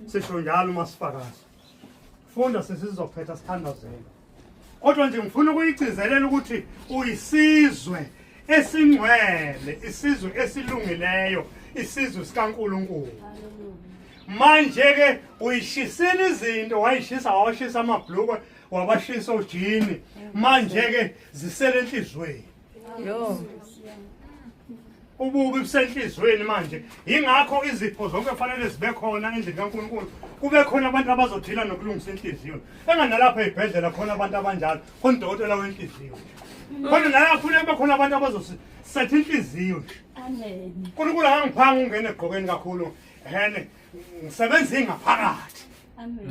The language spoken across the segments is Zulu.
sisho njalo uma sifakaza funda sesizophetha sithandazela kodwa nje ngifuna ukuyigcizelela ukuthi uyisizwe esingcwele isizwe esilungileyo isizwe sikaNkuluNkulu manje ke uyishisile izinto wayishisa washisa amabhlukwe wabashisa ojini manje ke zisele enhlizweni Yo. ububi busenhliziyweni manje yingakho izipho zonke kufanele zibe khona endlini kaNkulunkulu kube khona abantu abazothila nokulungisa inhliziyo enganalapha ezibhedlela khona abantu abanjalo khona udokotela wenhliziyo khona nala funa kube khona abantu abazosetha inhliziyo nje uNkulunkulu akangiphanga ungene egqokeni kakhulu hene ngisebenza ingaphakathi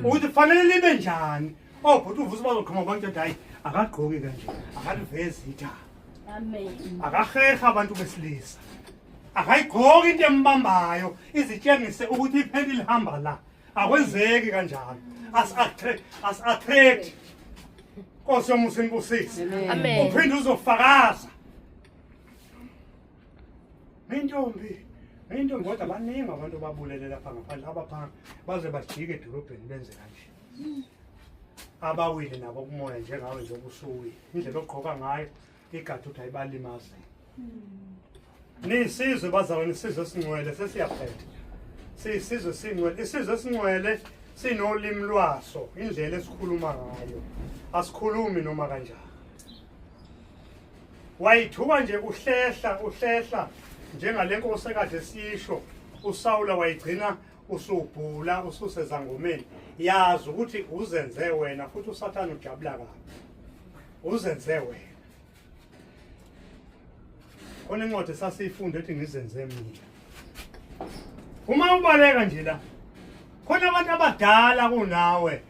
ukuthi fanele libe njani obhuti oh, uvusa bazoqhuma abantu ethi hayi akagqoki kanje akalivezi ithaba akahehe abantu besilisa akayigqoki into embambayo izitshengise ukuthi ipheli lihamba la akwenzeki kanjalo asi-attract nkosi yomusa inibusise uphinde uzofakaza Intombi, intombi kodwa baningi abantu babulele lapha ngaphandle abaphangi baze bajike edolobheni benze kanje. Abawile nabo kumoya njengawe nje obusuwile. Indlela ogqoka ngayo igadi ukuthi ayibalimaze. Nisizwe bazalwa nisizwe singcwele sesiyaphetha. Siyisizwe singcwele, isizwe singcwele sinolimi lwaso, indlela esikhuluma ngayo. Asikhulumi noma kanjani. wayithuka nje uhlehla uhlehla njengale nkosi ekade sisho usawula wayigcina usubhula ususezangomeni yazi ukuthi uzenze wena futhi usathane ujabula kabi uzenze wena Khona incwadi esasiyifunda ethi ngizenze mina. Uma ubaleka nje la khona abantu abadala kunawe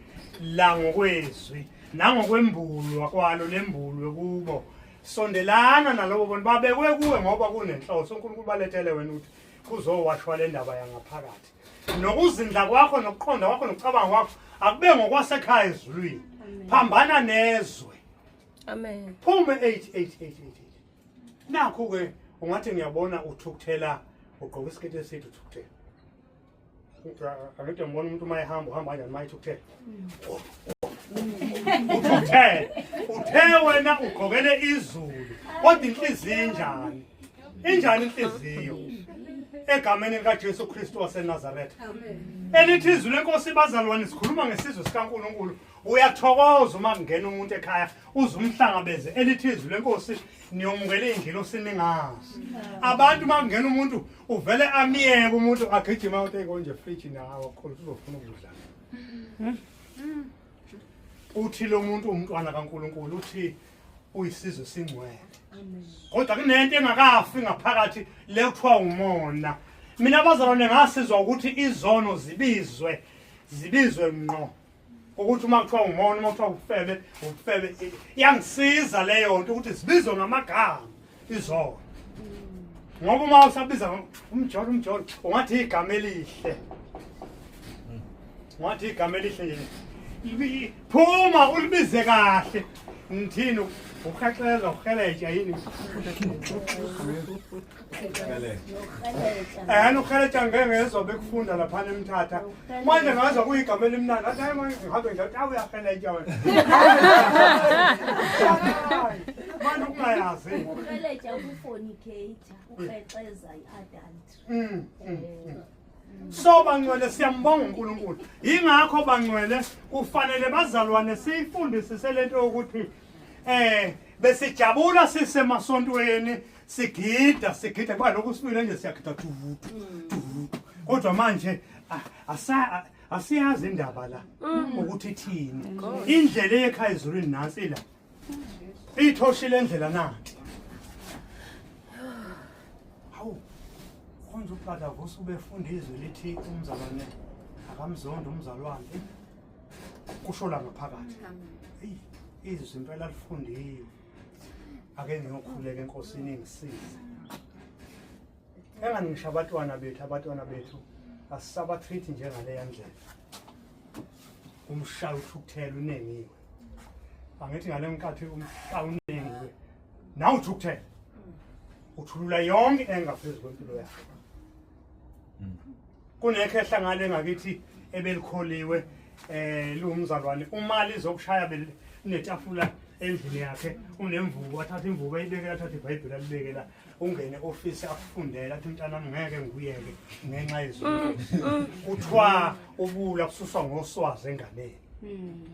la ngokwezwi nangokwembulwa kwalo lembulwe kubo sondelana nalobo bantu babekwe kuwe ngoba kunenhloso uNkulunkulu balethele wena ukuthi kuzowashwa le ndaba yangaphakathi nokuzindla kwakho nokuqonda kwakho nokucabanga kwakho akube ngokwasekhaya ezulwini phambana nezwe amen phume 8888 nakho ke ungathi ngiyabona uthukuthela ugqoka isiketi eside uthukuthela angide ngibona umuntu uma ehamba uhamba kanjani uma ethukuthela uthukuthela uthe wena ugqokele izulu kodwa inhliziyo injani injani inhliziyo egameni likaJesu Kristu waseNazaretha elithi izwi lenkosi bazalwane sikhuluma ngesizwe sikaNkuluNkulu uyathokoza uma kungena umuntu ekhaya uze umhlangabeze elithi izwi lenkosi niyomukela iy'ngilosi ningazi abantu uma kungena umuntu uvele amiyeke umuntu agijima uthi konje friji nawo khona uzofuna ukudla uthi lo muntu umntwana kankulunkulu uthi uyisizwe esingcwele kodwa kunento engakafi ngaphakathi le kuthiwa umona mina bazalwane ngasizwa ukuthi izono zibizwe zibizwe ngqo ukuthi uma kuthiwa umona uma kuthiwa ufebe ufebe iyangisiza leyo nto ukuthi zibizwe ngamagama izona ngoba uma usabiza umjolo umjolo ungathi igama elihle ungathi igama elihle nje phuma ulibize kahle ngithini uhaxeza uheletsha yini ehani uheletsha ngeke ngezwa bekufunda laphana emthatha manje ngazwa kuyigama elimnandi athi hayi manje ngihambe nje athi awuyaheletsha wena manje ukungayazi uheletsha ukufornicator ukrexeza i-adultry Mm, mm, mm. so bangcwele siyambonga unkulunkulu yingakho bangcwele kufanele bazalwane siyifundisise lento yokuthi eh besijabula sisemasontweni sigida sigida kuba lokhu sibile nje siyagida dudu dudu kodwa manje ah, asa ah, asiyazi indaba la mm. ukuthi ithini indlela eyekhaya ezulwini nansi la ithoshi lendlela nathi hawu konje ubhada vusa ubefunda izwi lithi umzalwane akamzonda umzalwane kusho la ngaphakathi izwi impela lifundiwe ake ngiyokhuleka enkosini ingisize engani ngisho abatwana bethu abatwana bethu asisabathrithi njengaleya ndlela umshaya uthukuthela unengiwe angithi ngale nkathi umshaya unengiwe nawe uthukuthela uthulula yonke engaphezu kwempilo yakhe kunekhehla ngale ngakithi ebelikholiwe eh liwumzalwane uma lizokushaya belinetafula endlini yakhe unemvubu athatha imvubu ayibekela athatha ibhayibheli alibekela ungene ofisi afundele athi mntana ngeke ngikuyeke ngenxa yezulu mm, mm. kuthiwa ubula kususwa ngoswazi enganeni mm.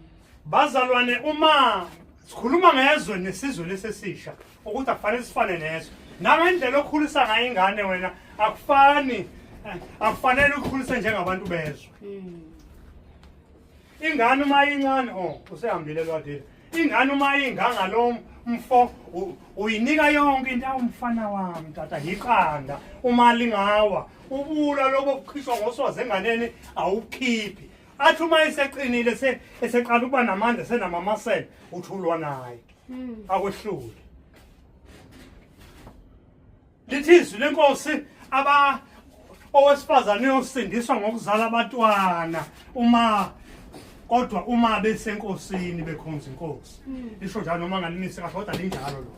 bazalwane uma sikhuluma ngezwe nesizwe lesesisha ukuthi akufanele sifane neso nangendlela okhulisa ngayo ingane wena akufani eh, akufanele ukhulise njengabantu bezwe hmm. ingane uma incane o oh, usehambile lwadile ingane uma ingangalo mfo uyinika yonke into awumfana wami tata yiqanda uma lingawa ubula lobo kukhishwa ngosoze enganeni awukhiphi athi uma eseqinile eseqala ukuba namandla senamamasela uthulwa naye Hmm. akwehlule lithi izwi lenkosi aba owesifazane uyosindiswa ngokuzala abatwana uma kodwa uma besenkosini bekhonza inkosi hmm. lisho njalo noma ngalinisi kahle kodwa linjalo lo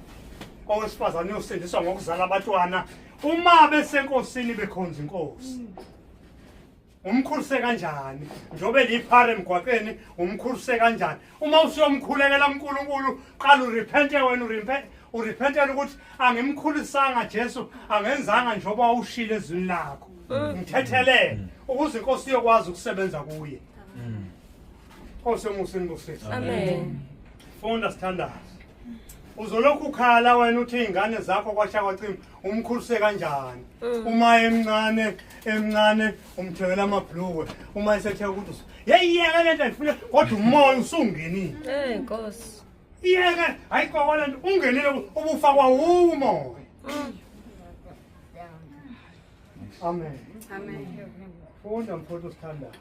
owesifazane uyosindiswa ngokuzala abatwana uma besenkosini bekhonza inkosi hmm. umkhulise kanjani njengoba eliphara emgwaqeni umkhulise kanjani uma usuyomkhulekela unkulunkulu qala urepente wena urepentela ukuthi angimkhulisanga jesu angenzanga njengoba wawushile ezwini lakho mm. ngithethelele ukuze inkosi iyokwazi ukusebenza kuye mm. Nkosi umusa inibusise. Amen. Funda sithandazi. Uzolokhu ukhala wena uthi izingane zakho kwasha kwacima umkhulise kanjani? Mm. Uma emncane emncane umthengela amabhlukwe uma esethe ukuthi usu- yeyi yeke lento ayifuna kodwa umoya usungenile. Hey Nkosi. Yeke hayi kokwa lento ungenile ubufakwa umoya. Amen. Amen. Funda mfowethu osithandayo.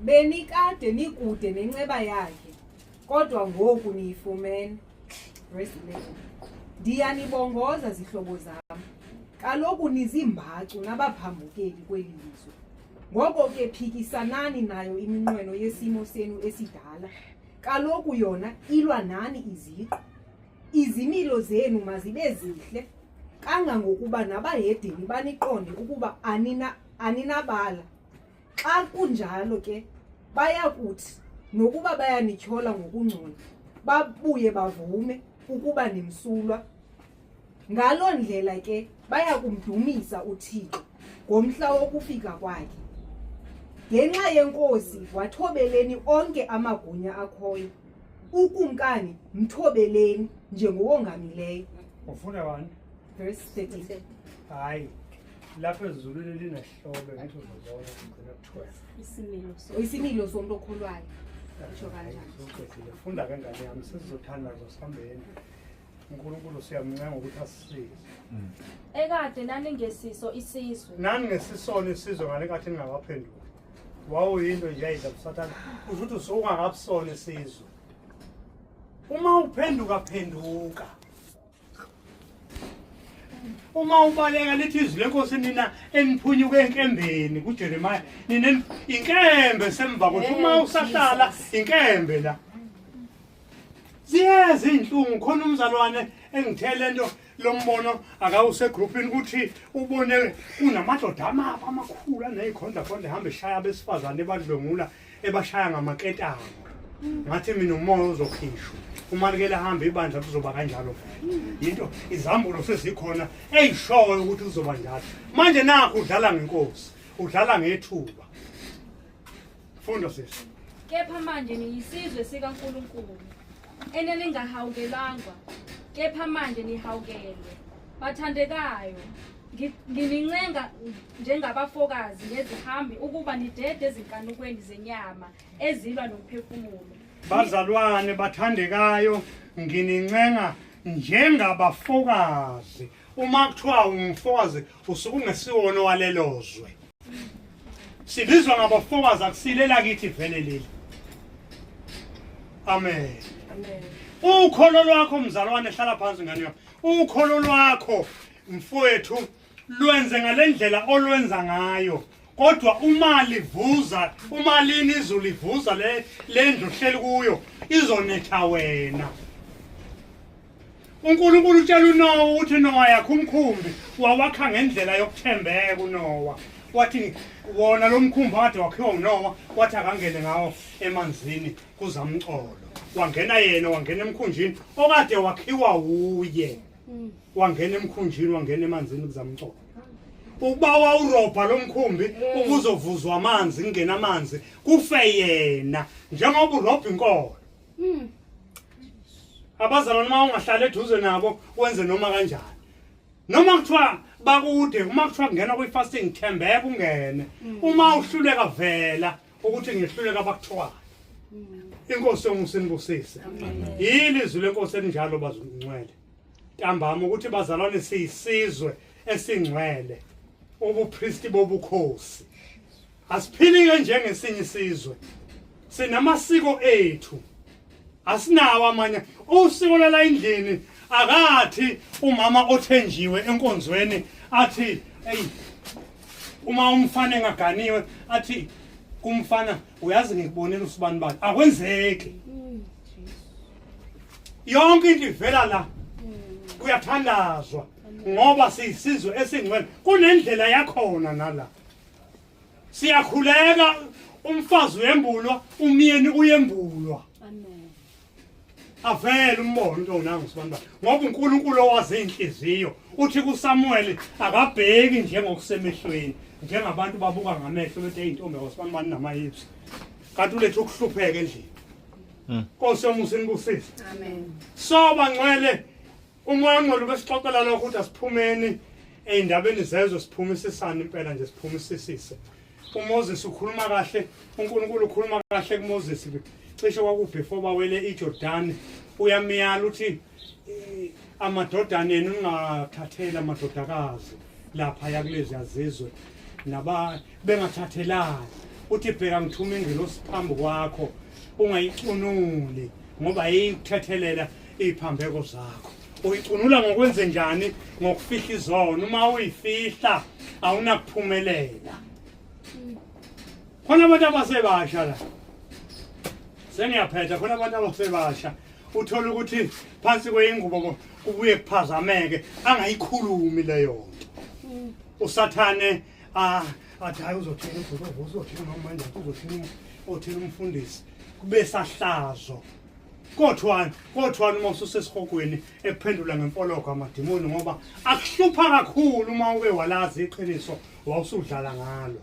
Benikade nikude nenceba yakhe kodwa ngoku niyifumene. Rest in peace. Ndiyanibongoza zihlobo zami. Kaloku nizimbacu nabaphambukeli kweli lizwe. Ngoko ke phikisanani nayo iminqweno yesimo senu esidala. Kaloku yona ilwa nani iziqu. Izimilo zenu mazibe zihle kangangokuba nabahedeni baniqonde ukuba anina aninabala. Xa kunjalo ke baya kuthi nokuba bayanityhola ngokungcola babuye bavume ukuba nimsulwa. Ngaloo ndlela ke baya kumdumisa uThixo ngomhla wokufika kwakhe. Ngenxa yenkosi wathobeleni onke amagunya akhoyo. ukumkani mthobeleni njengowongamileyo ufunda wani verse 30 hayi lapho ezulwini linehlobe ngathi uzobona kugcina kuthiwa isimilo so isimilo somuntu okholwayo usho kanjani funda kangane yami sizothandaza sihambeni uNkulunkulu siyamncenga ukuthi asisize mm. ekade naningesiso isizwe naningesisona isizwe ngale nkathi ningakaphenduki wawuyinto nje yayidla busathane kusho ukuthi usukungakabusona isizwe uma uphenduka phenduka uma ubaleka lithi izwi lenkosi nina eniphunyuke enkembeni kujeremiya nina inkembe semva kwethu uma usahlala inkembe la ziyeza izinhlungu khona umzalwane engithele into lombono akawuse groupini ukuthi ubone kunamadoda amaba amakhulu anezikhondla khondla ehamba eshaya abesifazane ebadlwengula ebashaya ngamaketanga ngathi mina umoya uzokhishwa umalekela ahambe ibandla kuzoba kanjalo vele yinto izambulo sezikhona eyishoyo ukuthi kuzoba njalo manje nakho udlala ngenkosi udlala ngethuba Funda sisi. Kepha manje niyisizwe sikaNkulunkulu eneningahawukelangwa kepha manje nihawukelwe bathandekayo nginincenga njengabafokazi nezihambi ukuba nidede ezinkanukweni zenyama ezilwa nomphefumulo bazalwane bathandekayo nginincenga njengabafokazi uma kuthiwa ungumfokazi usuke ungesiwona owalelozwe sibizwa ngabofokazi akusilela kithi vele leli amen ukholo lwakho mzalwane hlala phansi ngane yakho ukholo lwakho mfowethu lwenze ngalendlela olwenza ngayo kodwa uma livuza uma lini izulu livuza le lendlu hleli kuyo izonetha wena uNkulunkulu utshela uNowa ukuthi uNowa yakhe umkhumbi wawakha ngendlela yokuthembeka uNowa wathi wona lo mkhumbi akade wakhiwa uNowa wathi akangene ngawo emanzini kuzamcolo wangena yena wangena emkhunjini okade wakhiwa wuye hmm. wangena emkhunjini wangena emanzini kuzamcolo ukuba wawurobha lo mkhumbi hmm. ukuzovuzwa amanzi kungena amanzi kufe yena njengoba urobha inkolo Mm. Abazalwane uma ungahlala eduze nabo wenze noma kanjani. Noma kuthiwa bakude uma kuthiwa kungena kwi fasting thembeka ungene. Mm. Uma uhluleka vela ukuthi ngihluleka bakuthiwa. Mm. Inkosi yomusinibusise. Yini izwi lenkosi elinjalo bazungcwele. Ntambama ukuthi bazalwane siyisizwe esingcwele. Ubupristi bobukhosi. Asiphilike njengesinye isizwe. Sinamasiko ethu. Asinawo amanye. Usiko lala endlini akathi umama othenjiwe enkonzweni athi hey uma umfana engaganiwe athi kumfana uyazi ngikubonela usibani bani akwenzeki yonke into ivela la kuyathandazwa ngoba siyisizwe esingcwele kunendlela yakhona nala siyakhuleka umfazi uyembulwa umyeni uyembulwa avele umbono into onangu sibantu ngoba uNkulunkulu owazi inhliziyo uthi kuSamuel akabheki njengokusemehlweni njengabantu babuka ngamehlo bethi eyintombi awasibantu bani namayithi kanti ulethe ukuhlupheka endlini hmm. Nkosi yomusa inibusise amen so bangcwele Umwanqo lube sixoxelana ukuthi asiphumeni ey'ndabeni zezwe siphume isisane impela nje siphume isisise umoses ukhuluma kahle unkulunkulu ukhuluma kahle kumoses cishe kwakubefore bawele ijordani uyamyala ukuthi eh, amadodana enu ningathatheli amadodakazi lapha yakulezi yazizwe naba bengathathelani uthi bheka ngithuma ingelosi phambi kwakho ungayicunuli ngoba yikuthethelela iziphambeko zakho uyicunula ngokwenze njani ngokufihla izono uma uyifihla awunakuphumelela khona abantu abasebasha la sengiyaphetha khona abantu abasebasha uthole ukuthi phansi kweyingubo kubuye kuphazameke angayikhulumi leyo nto usathane ah athi hayi uzothini ubhuti ovusa uzothini nomanje uzothini othini umfundisi kube sahlazo kodwa kodwa uma ususesihogweni ekuphendula ngemfologo amadimoni ngoba akuhlupha kakhulu uma uke walazi iqiniso wawusudlala ngalo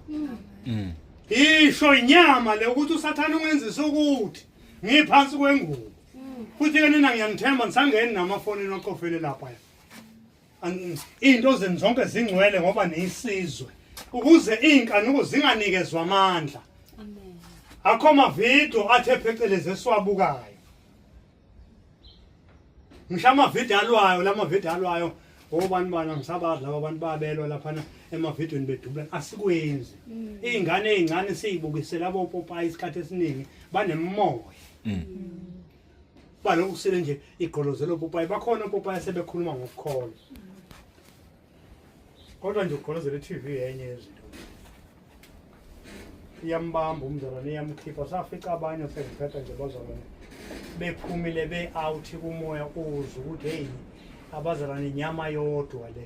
mm. isho inyama le ukuthi usathane ungenzisa ukuthi ngiphansi kwengubo mm. futhi ke nina ngiyanithemba nisangeni namafonini ocofele lapha Izinto zenu zonke zingcwele ngoba niyisizwe ukuze izinkanuko zinganikezwa amandla. Amen. Akho mavidiyo athe phecelezi esiwabukayo. ngisho amavidiyo alwayo la mavidiyo alwayo obani bani angisabazi laba bantu babelwa laphana emavidiyweni bedubulana asikwenzi mm. iy'ngane ey'ncane siyibukisela abopopayi isikhathi esiningi banemoya mm. baloku kusile nje igqolozelo popayi bakhona opopayi asebekhuluma ngokukholwa kodwa nje ugqolozela i-tv yenye yezinto iyambamba umzalwane iyamkhipha safica abanye sengiphetha nje bazalwane bephumile be-out kumoya uze ukuthi heyi abazalwane inyama yodwa le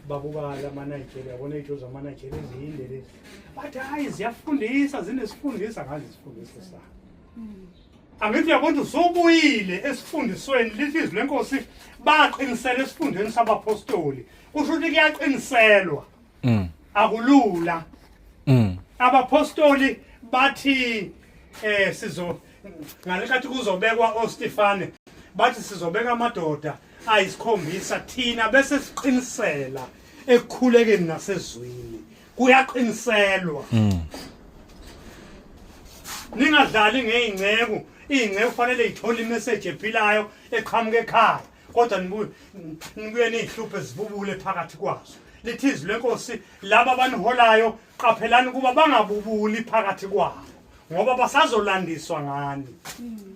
babukala amanigeria yabona iy'tho zamanigeria eziyinde lezi bathi hhayi ziyafundisa zinesifundisa ngazi isifundisa sabo Angithi yabona usubuyile esifundisweni lithi izwi lenkosi baqinisela esifundweni sabapostoli. Kusho ukuthi kuyaqiniselwa. Mm. Akulula. Mm. Abapostoli bathi eh sizo ngalekathi kuzobekwa oStefane bathi sizobeka amadoda ayisikhombisa thina bese siqinisela ekukhulekeni nasezwini kuyaqiniselwa mm. ningadlali ngey'nceku iy'nceku kufanele ithole imeseji ephilayo eqhamuka ekhaya kodwa nibuye niy'hluphe zibubule phakathi kwazo lithi izwi lenkosi laba abaniholayo qaphelani ukuba bangabubuli phakathi kwabo ngoba basazolandiswa ngani mm.